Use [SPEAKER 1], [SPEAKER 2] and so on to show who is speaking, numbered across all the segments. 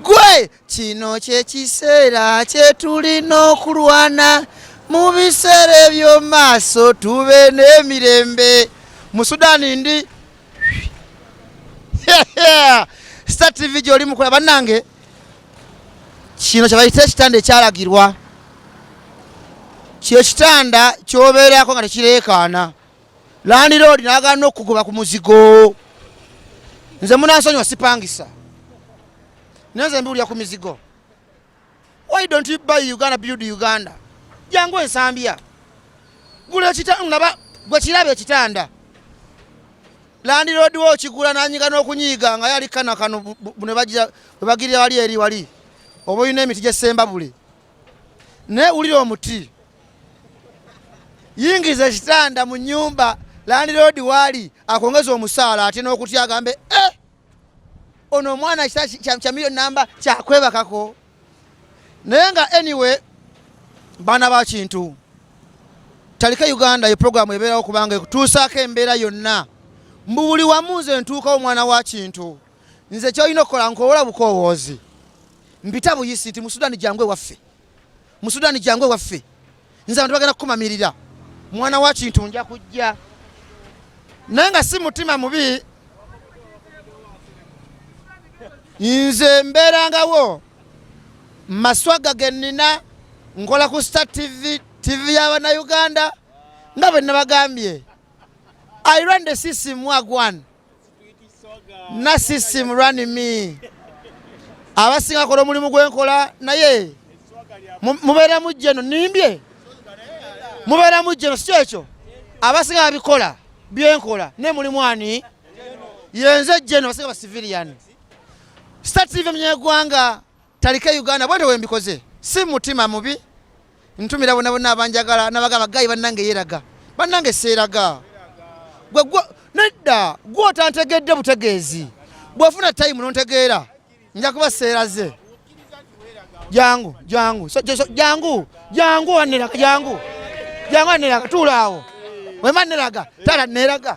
[SPEAKER 1] gwe kino kyekiseera kyetulina okulwana mu biseera ebyomumaaso tube n'emirembe mu sudani ndi star tv gyoli mukola bannange kino kyebayita ekitanda ekyalagirwa kyekitanda kyobeerako nga tekireekaana landiroodi nagaana okukugoba ku muzigo nze munansonyiwa sipangisa naye nze mbiwulira ku mizigo why don't you buy uganda build uganda jangu ensambya gula ekitanaba gwe kiraba ekitanda landiroodi wo okigula nanyiga n'okunyiiga nga yali kana kano bwebagirira wali eri wali oba olina emiti gyesemba buli naye wulira omuti yingiza ekitanda mu nyumba landiroodi waali akwongeza omusaala ate n'okutya agambe eh! ono omwana kya miliyoni namba kyakwebakako naye nga anyway baana ba kintu talika uganda ye puroguramu ebeerawo kubanga ekutuusaako embeera yonna mbu buli wamu nze ntuukawo omwana wa kintu nze kyolina okukola nkowola bukowoozi mpita buyisi nti musudani jangu ewaffe mu Sudan jangu ewaffe nze abantu bagenda kukumamirira mwana wa kintu nja kujja naye nga si mutima mubi nze mbeerangawo maswaga ge nnina nkola ku star tv tv y'abanauganda nga bwe nabagambye i run the system wagwan Narcissism run me. Abasinga kola omulimu gwenkola naye mubeera mujja eno nimbye mubeera mujja eno sikyo ekyo abasinga babikola byenkola naye mulimu ani yenze jeno abasinga basivilian sitatiive mnyegwanga talike uganda bwete wembikoze si mutima mubi ntumira bona bona abanjagala nabagamba gayi bannange yeraga bannange seeraga gwe nedda gwe otantegedde butegeezi bwofuna tayimu nontegeera nja kuba seeraze jangu jangu jangu jangu waneraga jangu jangu waneraga tuulaawo wema neraga tala neraga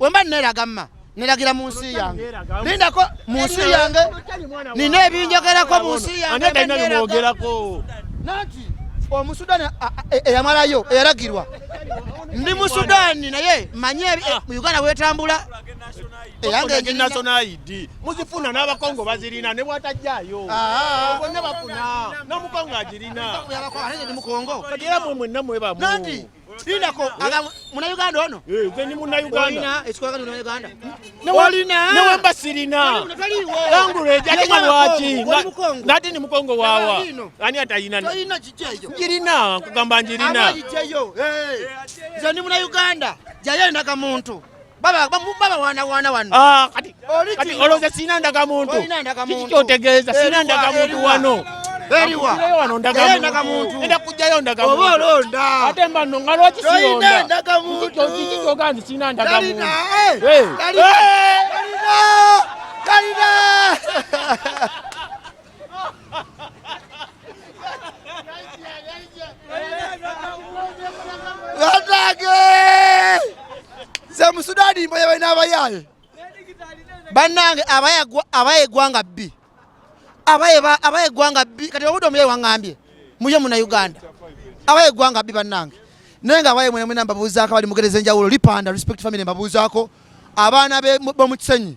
[SPEAKER 1] wemba neraga mma neragira mu nsi yange lindako mu nsi yange nina ebinjogerako mu nsi yange
[SPEAKER 2] nanti
[SPEAKER 1] omusudani e, eyamalayo eyalagirwa ndi mu sudani naye manye e, ah. uganda wetambula
[SPEAKER 2] eyangenationaid muzifuna n'abakongo bazirina ne bwatajjayo ah. bonna bafuna n'omukongo agirina
[SPEAKER 1] kati era mwe mwenna
[SPEAKER 2] mwebamu Lindako
[SPEAKER 1] eh? aga munauganda ono eh, nze ndi munauganda
[SPEAKER 2] ekikolagana
[SPEAKER 1] munauganda olina ne
[SPEAKER 2] wemba sirina language ate nga lwaki nati ni mukongo wawa ani atayina njirina nkugamba njirina eh,
[SPEAKER 1] nze ndi munauganda jayo endaga muntu baba baba wana wana wano ah kati kati
[SPEAKER 2] oloza sina ndaga muntu kiki kyotegeeza sina ndaga muntu wano eriwa
[SPEAKER 1] wano ndaga
[SPEAKER 2] muntu enda kujjayo ndaga muntu oba olonda ate
[SPEAKER 1] mba no nga lwaki
[SPEAKER 2] siyonda ndaga muntu kiki
[SPEAKER 1] kyoga nti
[SPEAKER 2] sina ndaga muntu kalina kalina
[SPEAKER 1] kalina nze musudaani mboye balina abayaaye bannange abaye eggwanga bbi abaye eggwanga bbi kati obudde omuyayi waŋŋambye muye muna uganda abaye eggwanga bbi bannange naye nga abaye mwenemwena mbabuuzaako abali mugereza enjawulo lipanda respect family mbabuuzaako abaana bomukisenyi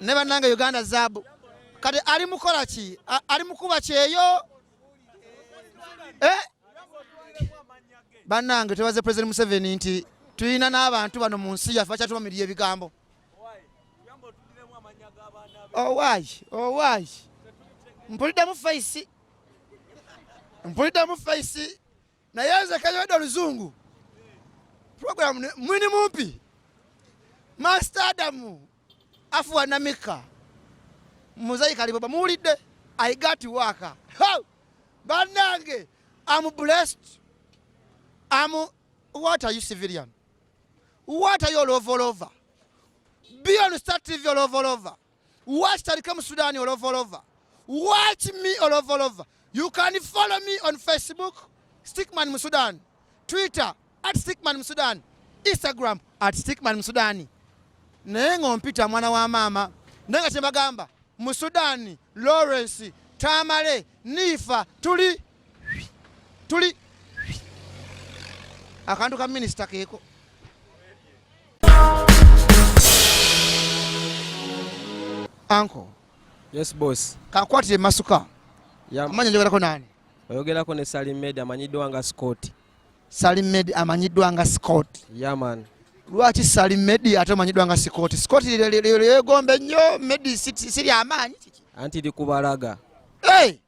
[SPEAKER 1] ne bannange uganda zaabu kati ali mukola ki ali mukuba kyeyo eh? bannange twebaze president museveni nti tulina n'abantu bano mu nsi yaffe bakyatumamirira ebigambo owayi oh, owayi oh, mpuliddemu faisi mpuliddemu faisi naye nze kayode oluzungu program mwini mumpi master adamu afuwa namika muzayi kaliboba muwulidde i got work banange am blessed am what are you civilian what are you all over all over be on star tv all over all over Watch Tarikam Sudani all over, all over. Watch me all over, all over. You can follow me on Facebook, Stickman Musudan, Twitter at Stickman Musudan, Instagram at Stickman Musudani. Naye ng'ompita mwana wa maama naye nga kyembagamba Musudani, Lawrence, Tamale, Nifa tuli tuli akantu ka minisita keeko anko yes
[SPEAKER 3] boss kakwatire masuka
[SPEAKER 1] amanya
[SPEAKER 3] njogerako nani
[SPEAKER 1] oyogerako ne salim
[SPEAKER 3] med amanyiddwa nga scott salim med
[SPEAKER 1] amanyiddwa nga scott yaman
[SPEAKER 3] lwaki salim
[SPEAKER 1] med ate omanyiddwa nga scott scott lyegombe nnyo med
[SPEAKER 3] siri
[SPEAKER 1] amaanyi anti likubalaga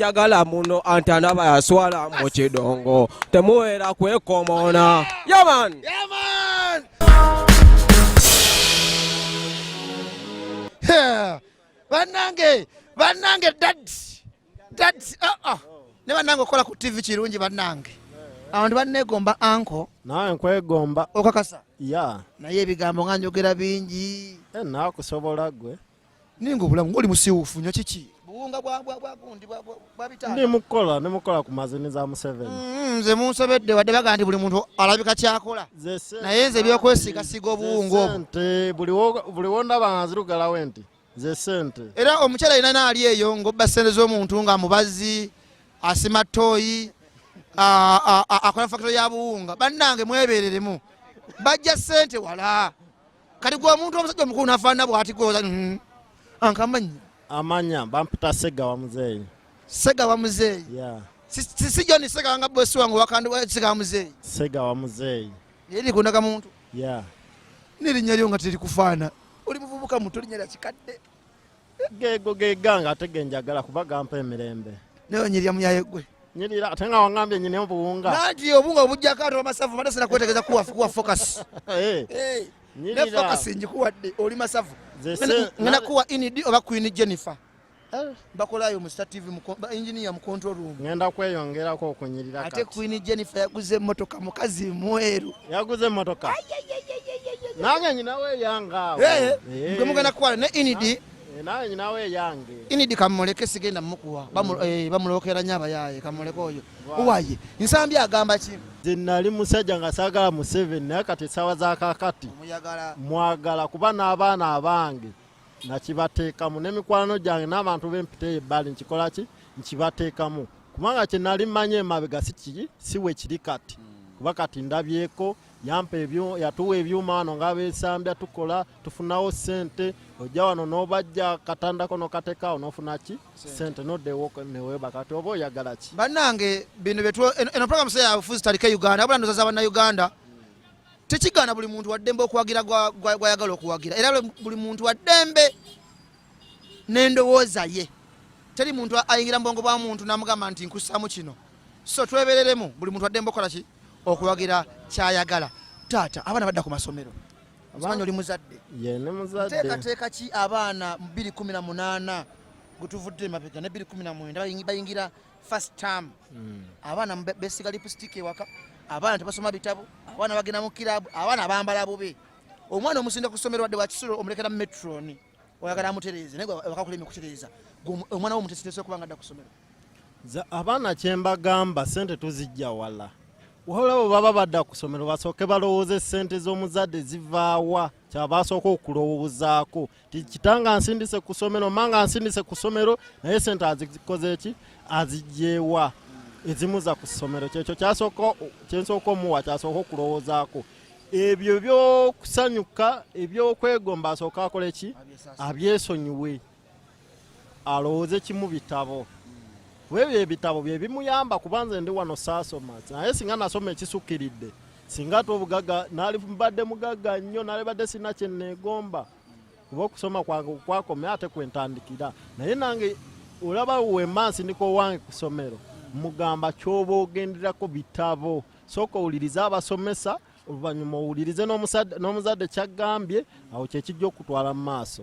[SPEAKER 3] yagala muno antanaba yaswala mu kidongo temuwera kwekomona yaman
[SPEAKER 1] banange banange dads dads uh ah, -uh. Ah. ne banange okola ku tv kirungi banange abantu banegomba anko nawe nkwegomba
[SPEAKER 4] okakasa ya
[SPEAKER 1] naye
[SPEAKER 4] ebigambo nga
[SPEAKER 1] njogera bingi eh, nakusobola
[SPEAKER 4] gwe ninga obulamu
[SPEAKER 1] ngoli musiwufu nyo kiki buwunga bwa bwa bwa gundi bwa bwa bitano ndi mukola ne mukola
[SPEAKER 4] ku mazini za museven mm, nze munsobedde
[SPEAKER 1] wadde bagandi buli muntu alabika kyakola naye nze byokwesiga siga obuwunga obwo nte buli wo buli wo ndaba nga
[SPEAKER 4] zirugala wenti ze sente era omukyala alina
[SPEAKER 1] naali eyo ngobba sente z'omuntu nga mubazi asima toyi akola fakito ya buwunga bannange mwebereremu bajja sente wala kati gwe omuntu omusajja omukulu nafaanana bwati gwoza mm-hmm. ankamanyi amanya
[SPEAKER 4] bampita segawa muzeeyi segawa
[SPEAKER 1] muzeeyi sisi joni segawa nga bosi wange wakandisegawa muzeeyi segawa muzeeyi
[SPEAKER 4] naye likundaga muntu
[SPEAKER 1] nerinnya lyo nga terikufaana oli muvubuka muto linya lya kikadde geego
[SPEAKER 4] geganga ate genjagala kuba gampa emirembe naye onyirira muyaye
[SPEAKER 1] gwe nyirira ate nga wangambye
[SPEAKER 4] nyine obuwunga nanti obunga obujjako
[SPEAKER 1] ate amasavu mada sina kwetegeza kuwa kuwa focus eh. Eh. nyirira ne focus njikuwadde oli masavu ngena kuwa inidi oba queen jennifer eh. bakolayo mu Star TV ba engineer mu control room. Ngenda kweyongerako
[SPEAKER 4] okunyirira kati. Ate Queen Jennifer
[SPEAKER 1] yaguze emmotoka mukazi mweru. Yaguze emmotoka.
[SPEAKER 4] Nange nyinawe yanga. Eh, eh. Mbe mugana
[SPEAKER 1] kwala ne Inidi. Eh, Nange nyinawe
[SPEAKER 4] yange. Inidi kamuleke
[SPEAKER 1] sigenda mukuwa. Bamu mm. eh, bamulokera nyaba yaye kamuleke oyo. Uwaye. Nsambi agamba ki? Zinali musajja
[SPEAKER 4] nga sagala mu 7 naye kati sawa za kakati. Mwagala kuba n'abaana abange. nga kibateekamu n'emikwano gyange n'abantu b'empita eyo ebbali nkikola ki nkibateekamu kubanga kye nali mmanyi emabega sikiki si we kiri kati hmm. kuba kati ndabyeko yampa yatuwa ebyuma wano nga besambya tukola tufunawo sente ojja wano nobajja katandako nokatekawo nofuna ki sente nodewoko neweba kati oba oyagala ki banange bino
[SPEAKER 1] eno program seyafuzi talike uganda abula ndozaza banauganda tekigaana buli muntu waddembe okuwagira gwayagala okuwagira era buli muntu waddembe n'endowooza ye teri muntu ayingira mu bwongo bwa muntu namugamba nti nkussaamu kino so twebereremu buli muntu waddembe okukola ki okuwagira kyayagala taata abaana badda ku masomero abaana oli muzadde teekateeka ki abaana 218 gwetuvudde emabega ne 219 bayingira first term mm. abaana besiga lipstick ewaka abaana tebasoma bitabu abaana bagenda mu kirabu abaana bambala bubi omwana omusinde ku ssomero wadde wakisulo omulekera mu metroni oyagala amutereeze naye wakakulemi kutereeza omwana wo mutesitese okuba nga dda ku ssomero abaana
[SPEAKER 4] kyembagamba sente tuzijja wala olabo baba badda ku ssomero basooke balowooze sente z'omuzadde zivaawa kyabasooka okulowoozaako kitanga ansindise ku ssomero manga ansindise ku ssomero naye sente azikoze ki azijewa ezimuza ku ssomero kyekyo kyasooka kyensooka omuwa kyasooka okulowoozaako ebyo byokusanyuka ebyokwegomba asooka akole ki abyesonyiwe alowooze kimu bitabo webyo ebitabo byebimuyamba kubanze ndi wano saasoma naye singa nasoma ekisukiridde singa ate obugaga nalibadde mugagga nnyo nalibadde sirina kyeneegomba kuba okusoma kwange kwakome ate kwentandikira naye nange olaba wemansi ndiko owange ku ssomero mugamba kyoba ogenderako bitabo sooka owulirize abasomesa oluvannyuma owulirize n'omuzadde kyagambye awo kyekijja okutwala mu maaso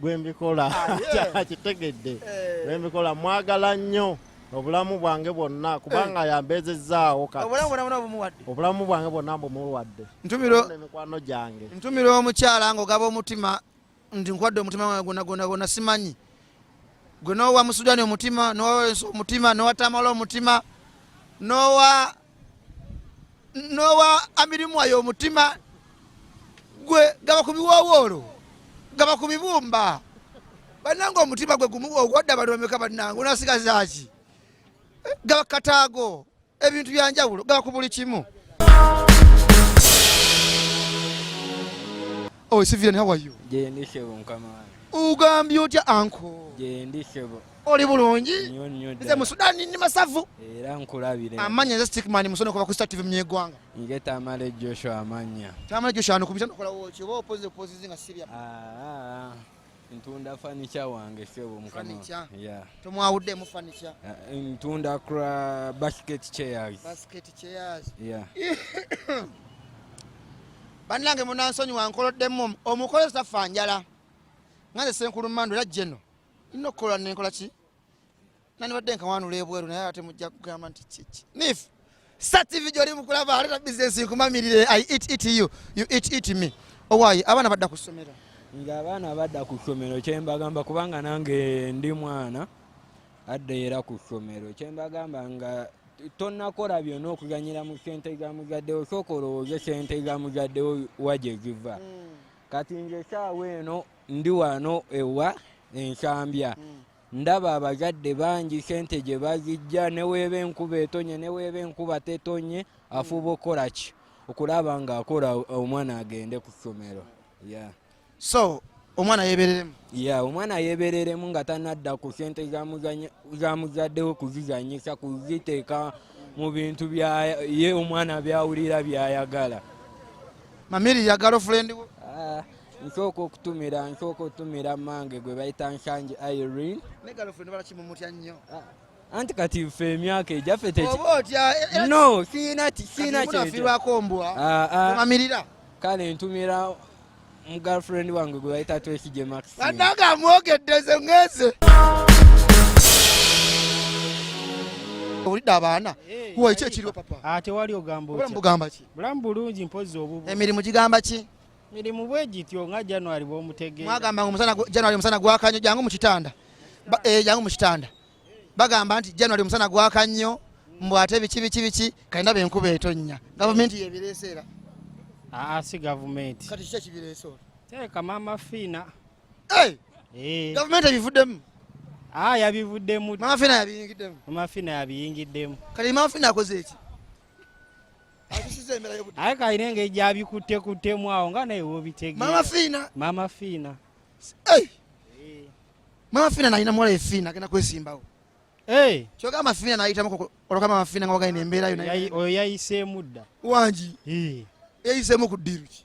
[SPEAKER 4] gwembikola ah, kitegedde eh. gwembikola mwagala nnyo obulamu bwange bwonna kubanga eh. yambezezzaawo obulamu bwange bwonna mbumuwadde emikwano gyange ntumira omukyala
[SPEAKER 1] ngaogaba omutima nti nkwadde omutima wange gwonna gwonna gwonna simanyi gwe nowa musudani omutima nowa omutima nowa tamala omutima nowa n'owa amirimu ayo omutima gwe gaba ku biwoowoolo gaba ku bibumba banange omutima gwe gumu ogwadde abantu bameka banange onasigazaaki eh, gaba kataago ebintu byanjawulo gaba ku buli kimu Oh, Sivian, how are you?
[SPEAKER 5] Ugambye otya
[SPEAKER 1] anko?
[SPEAKER 5] oli bulungi
[SPEAKER 1] nze mu
[SPEAKER 5] sudani ndi
[SPEAKER 1] masavu era nkulabire
[SPEAKER 5] amanya nze stickman
[SPEAKER 1] musono kuva ku star tv mnyegwanga nge tamale
[SPEAKER 5] joshua amanya tamale joshua anukumisa
[SPEAKER 1] nokola woki oba opozi opozi zinga sibya ah, ah, ah. ntunda
[SPEAKER 5] fanica wange sebo mukama yeah. tomwawuddemu
[SPEAKER 1] fanica eh, ntunda
[SPEAKER 5] kra basket chairs basket chairs
[SPEAKER 1] yeah. bannange munansonyi wankoloddemu omukozi tafa njala nga nze senkulu mando era jeno nina okukola nenkola ki nandibadde nkawanula ebweru naye ate mujja kugamba nti kiki nif sa tv gyoli mukulaba aleta bizinesi nkumamirire i it it you you it it me owayi abaana badda ku ssomero nga abaana
[SPEAKER 5] badda ku ssomero kyembagamba kubanga nange ndi mwana adda era ku ssomero kyembagamba nga tonakola byona okuganyira mu sente za muzadde osooka olowooze sente za muzadde wa gye ziva hmm. kati nze esaawa eno ndi wano ewa ensambya hmm. ndaba abazadde bangi sente gye bazijja neweeba enkuba etonye neweeba enkuba tetonye afuuba okukola ki okulaba nga akola omwana agende ku ssomero so
[SPEAKER 1] omwana yebereremu ya omwana
[SPEAKER 5] yebereremu nga tanadda ku sente zamuzaddewo kuzizanyisa kuziteeka mu bintu ye omwana byawulira byayagala
[SPEAKER 1] mamiri ya galofulendi wo ah. nsooka
[SPEAKER 5] okutumira nsooka okutumira mange gwe bayita nsangi irene
[SPEAKER 1] ah, anti kati
[SPEAKER 5] ffe emyaka egyaffe eh, eh, no
[SPEAKER 1] siina
[SPEAKER 5] siina kyekirwako
[SPEAKER 1] mbwa ah, ah. omamirira kale ntumira
[SPEAKER 5] mu girlfriend wange gwe bayita twekije max ananga amwogedde
[SPEAKER 1] ze ngeze olidde abaana eh, wo ekyo ekiriwo papa tewali ogamba
[SPEAKER 6] otya bulamu
[SPEAKER 1] bulungi mpozi
[SPEAKER 6] obubu emirimu gigamba ki
[SPEAKER 1] mirimu bwe
[SPEAKER 6] gityo nga january bwomutegeera mwagamba omusana january
[SPEAKER 1] omusana gwakannyo jangu mu kitanda eh, jangu mu kitanda bagamba nti january omusana gwakannyo mbu ate biki biki biki kalina benkuba etonnya gavumenti yebireese era aa ah,
[SPEAKER 6] si gavumenti kati kiki ekibireese
[SPEAKER 1] olwo teeka maama
[SPEAKER 6] fiina
[SPEAKER 1] eh! Eh. gavumenti ebivuddemu aa ah,
[SPEAKER 6] yabivuddemu maama fiina
[SPEAKER 1] yabiyingiddemu maama fiina
[SPEAKER 6] yabiyingiddemu kati maama fiina akoze
[SPEAKER 1] eki
[SPEAKER 6] aye kalina engeri gyabikuttekuttemu awo nga naye wobitegmama fiina mama
[SPEAKER 1] fiina mama fiina nalina muwala efiina agenda kwesimbawo kyoga amafiina nayitamu oloka amafiina nga wagalina embeera yo oyo yayiseemu
[SPEAKER 6] dda wangi
[SPEAKER 1] yayiseemu ku ddiiru ki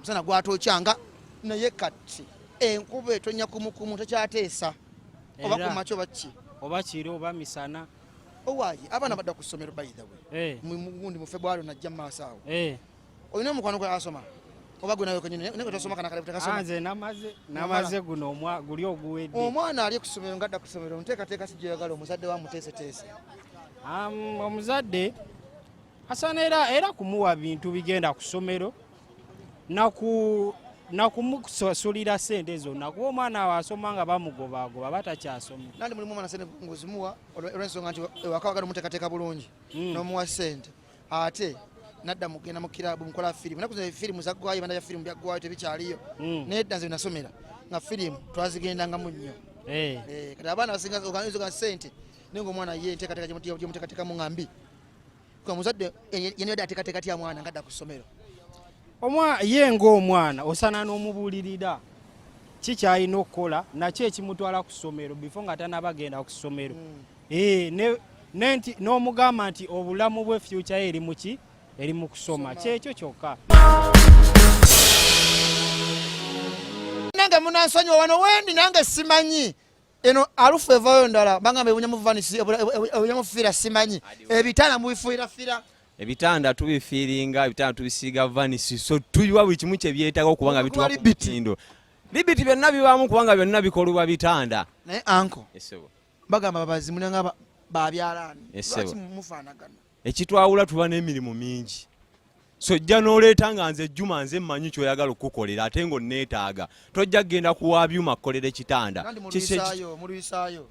[SPEAKER 1] musana gwatokya nga naye kati enkuba etonya kumukumu tekyateesa oba kumakyo bakki oba kiro oba
[SPEAKER 6] misana owaayi
[SPEAKER 1] abaana badda ku ssomero by the way eh. mugundi mu febwali najja mu maaso awo eh. olina omukwano gwe asoma oba gwe nawe kwenyini naye kwetasoma kana kale butakasoma nze namaze
[SPEAKER 6] namaze guno omwa guli oguwedde omwana ali ku ssomero
[SPEAKER 1] ngadda ku ssomero nteekateeka si gyeyagala omuzadde wa muteeseteese omuzadde
[SPEAKER 6] asana era era kumuwa bintu bigenda ku ssomero nakumusasulira sente zonna kuba omwana awo asoma nga bamugobaagoba batakyasoma nandi mulimu omwana sente
[SPEAKER 1] ngozimuwa olwensonga nti ewaka wagala omuteekateeka bulungi hmm. nomuwa sente ate nadda mugenda mu kirabu mukola firimu naku firimu zaggwayo ebanda ya firimu byaggwayo tebikyaliyo hmm. naye dda nze nasomera nga firimu twazigendangamu nnyo eh. Eh, kati abaana basinga oganizo ga sente naye ngaomwana ye enteekateeka gyemuteekateekamu nga mbi Kwa muzadde yene yadde ateekateeka atya mwana ngadda ku ssomero? Omwa
[SPEAKER 6] ye ng'omwana osaana n'omubuulirira ki ky'alina okukola nakyo ekimutwala ku ssomero bifo nga tanaaba genda ku ssomero. Hmm. Eh, nenti n'omugamba nti obulamu bwe fyukya ye eri mu ki eri mu kusoma kyekyo kyokka.
[SPEAKER 1] nange munansonyiwa wano wendi nange simanyi eno alufu evayo ndala bangamba ebunya muvanisi ebunya mufiira simanyi ebitanda mubifuira fira
[SPEAKER 7] ebitanda tubifiiringa ebitanda tubisiiga vanisi so tuyiwa buli kimu kyebyetaaga okuba nga bituwa ku mutindo libiti byonna bibaamu kubanga byonna bikolebwa bitanda naye anko
[SPEAKER 1] bagamba
[SPEAKER 7] babazimunanga
[SPEAKER 1] babyalaani lwaki
[SPEAKER 7] mufaanagana
[SPEAKER 1] ekitwawula tuba
[SPEAKER 7] n'emirimu mingi so ojja n'oleeta nga nze juma nze mmanyi kyoyagala okukukolera ate ng'onneetaaga tojja kugenda kuwa byuma kukolera ekitanda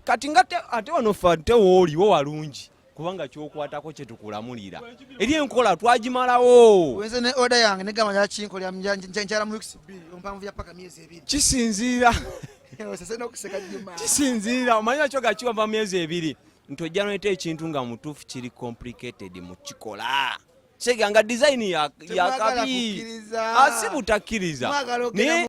[SPEAKER 7] kati nga ate wano fe ate wooliwo walungi kubanga kyokwatako kyetukulamulira eri enkola twagimalawo
[SPEAKER 1] kisinziira kisinziira omanyinakyo
[SPEAKER 7] gakiwa va myezi ebiri nti ojja noyita ekintu nga mutuufu kiri complicated mu kikola seganga design yakabi asi butakkiriza